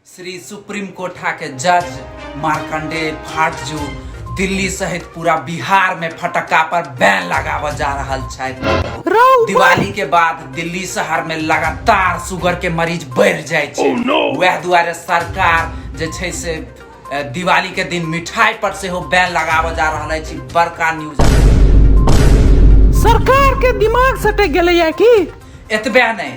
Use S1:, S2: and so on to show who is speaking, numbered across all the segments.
S1: Shri supreme कोठा के जज मार्कंडे फाटजू दिल्ली सहित पूरा बिहार में फटक्का पर बैन लगावल जा रहल छै दिवाली के बाद दिल्ली शहर में लगातार शुगर के मरीज बढ़ जाय छै वह दुआरे सरकार जे छै से अ, दिवाली के दिन मिठाई पर से हो बैन लगावल जा रहल अछि बड़का न्यूज सरकार के दिमाग सटक गेलैया की एतबे नहीं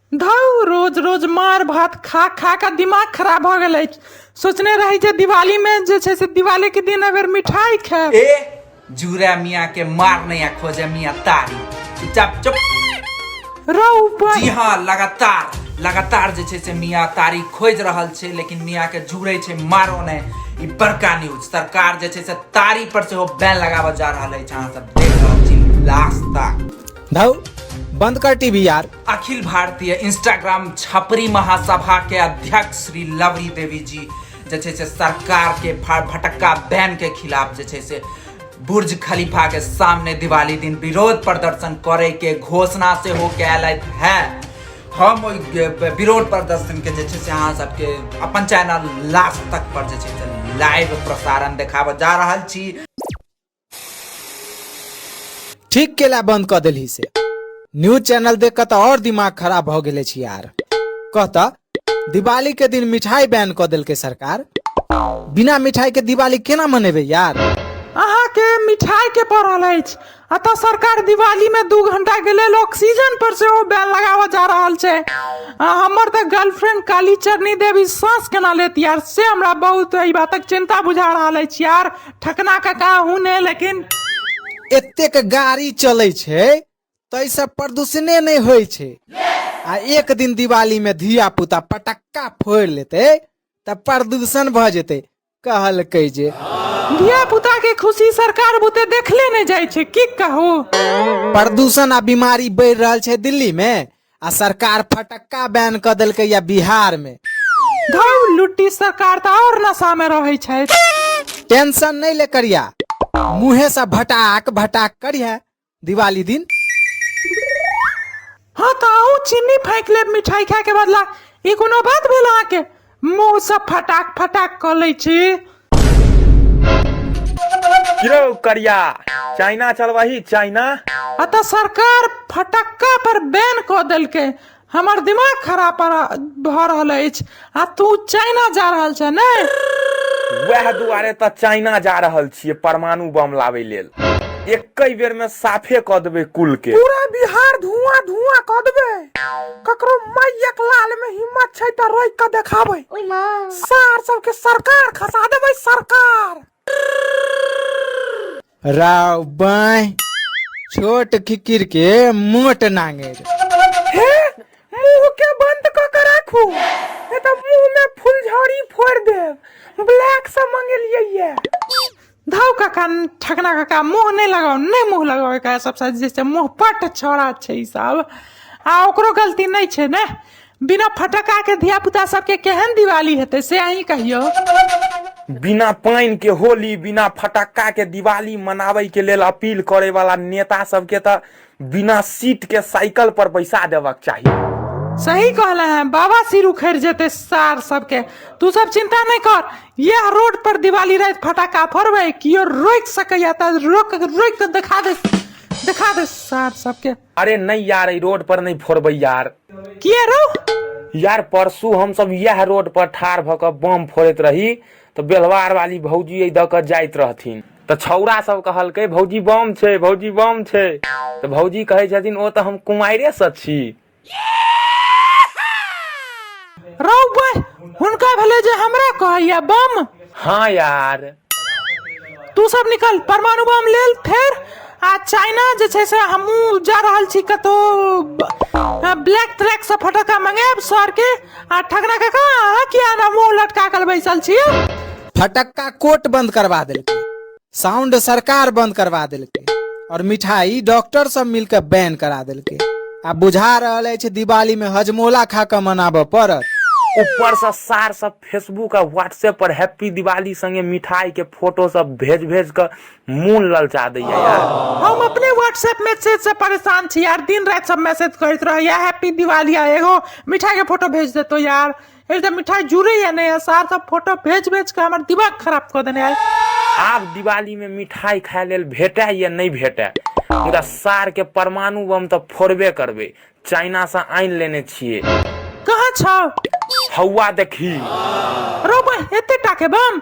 S1: धौ रोज रोज मार भात खा खा कऽ दिमाग खराब भऽ गेल अछि सोचने रही जे दिवालीमे जे छै से दिवालीके दिन अगर मिठाइ खायब ए जूरा मिया के मार नया खोजे मिया तारी चुपचाप चुप रौ ऊपर जी हाँ लगातार लगातार जे छै से मिया तारी खोज रहल छै लेकिन मिया के जुड़े छै मारो ने ई बड़का न्यूज सरकार जे छै से तारी पर सेहो बैन लगाबऽ जा रहल अछि अहाँ सब देख रहल छी लास्ट तक धौ बंद कर टीवी यार अखिल भारतीय इंस्टाग्राम छपरी महासभा के अध्यक्ष श्री लवरी देवी जी जे छै से सरकार के भा- भटक्का बैन के खिलाफ जे छै से बुर्ज खलीफा के सामने दिवाली दिन विरोध प्रदर्शन करे के घोषणा से हो कैल है हम ओहि ग- विरोध प्रदर्शन के जे छै से अहाँ सबके अपन चैनल लास्ट तक पर जे छै से लाइव प्रसारण देखाबऽ जा रहल छी ठीक केला बंद क देलही से न्यूज चैनल देख के तो और दिमाग खराब भ गेले छी यार कहता दिवाली के दिन मिठाई बैन क देलके सरकार बिना मिठाई के दिवाली केना मनेबे यार अहाँके मिठाई के पड़ल अछि अतः सरकार दिवाली में दू घंटा के लेल ऑक्सीजन पर से ओ बैन लगावा जा रहल छै आ, हमर तऽ गर्लफ्रेंड काली चरनी देवी सांस केना लेत यार से हमरा बहुत एहि बातक चिंता बुझा रहल अछि यार ठकना काका हूँ ने लेकिन एतेक गाड़ी चलै छै ताहिसँ प्रदूषणे नहि होइ छै आ एक दिन दिवालीमे धिया पुता पटक्का फोड़ि लेतै तऽ प्रदूषण भऽ जेतै कहलकै जे धिया पुता के खुशी सरकार बुते देखले नहि जाइ छै की कहू प्रदूषण आ बीमारी बढ़ि रहल छै दिल्लीमे आ सरकार फटक्का बैन कऽ देलकै या बिहार में धौ लुट्टी सरकार तऽ आओर नशा में रहै छै टेंशन नहीं ले करिया मुँहे से भटाक भटाक करिया दिवाली दिन हाँ तऽ अहूँ चिन्नी फाँकि लेब मिठाई खाय के बदला ई कोनो बात भेल अहाँके मुंह से फटाक फटाक क लै छी यौ करिया चाइना चलबही चाइना अतः सरकार फटक्का पर बैन कऽ देलकै हमर दिमाग खराब पर- भऽ रहल अछि आ तू चाइना जा रहल छ ने वएह दुआरे तऽ चाइना जा रहल छियै परमाणु बम लाबै लेल एकै बेर में साफे कऽ देबै कुल के पूरा बिहार धुआं धुआं कऽ देबै ककरो मायक लाल में हिम्मत छै त रोक के देखाबै ओय मां सार सब के सरकार खसा देबै सरकार राव बाय छोट खिकिर के मोट नांगेर हे मुंह के बंद क के राखू ए त मुंह में फुलझड़ी फोड़ देब ब्लैक से मंगेलिए ये धौ काका ठकना काका मुँह नहि लगाउ नहि मुँह लगाउ एकरा सबसँ जे छै मुँह पट छौड़ा छै ई सब आ ओकरो गलती नहि छै ने बिना फटक्काके धियापुता सबके केहन दिवाली हेतै से अहीं कहियौ बिना पानि के होली बिना फटक्का के दिवाली मनाबै के लेल अपील करे वाला नेता सबके तऽ बिना सीट के साइकिल पर बैसा देबक चाही सही कहला है बाबा सिर उखड़ जेते सार सबके तू सब चिंता नहीं कर यह रोड पर दिवाली रात फटाका फोड़बे कियो रोक सकैया त रोक रोक के दिखा दे दिखा दे सार सबके अरे नहीं यार ई रोड पर नहीं फोड़बै यार किए रो यार परसू हम सब यह रोड पर ठार भऽ कऽ बम फोड़ैत रही तऽ बेलवार वाली भौजी एहि दऽ कऽ जाइत रहथिन तऽ छौड़ा सब कहलकै भौजी बम छै भौजी बम छै तऽ भौजी कहै छथिन ओ तऽ हम कुमारे से छी रौ बह हुनका भेलै जे हमरा कहैया बम हाँ यार तू सब निकल परमाणु बम लेल फेर आ चाइना जे छै से हमहूँ जा रहल छी कतहु ब्लैक ट्रैक से फटक्का मंगायब सर के आ ठकरा काका अहाँ किया ना मुंह लटका कर बैसल छी फटक्का कोट बंद करवा देलकै साउंड सरकार बंद करवा देलकै और मिठाई डॉक्टर सब मिलकर बैन करा देलकै आ बुझा रहल अछि दिवाली में हजमोला खा के मनाबऽ पड़त ऊपर से सार सब फेसबुक आ व्हाट्सएप पर हैप्पी दिवाली संगे मिठाई के फोटो सब भेज भेज के मोन ललचा दैया यार हम अपने व्हाट्सएप मैसेज से परेशान छी यार दिन रात सब मैसेज करैत रहैया हैप्पी दिवाली आ एगो मिठाई के फोटो भेज देतो यार एक तो मिठाई जुड़े या नहीं है सार सब फोटो भेज भेज के हमार दिमाग खराब कर देने है आब दिवाली में मिठाई खाय लेल भेटै या नहि भेटै मुदा सार के परमाणु बम तऽ फोड़बे करबै चाइना से आनि लेने छियै कहाँ छौ हौआ देखी रोबो एते टाके बम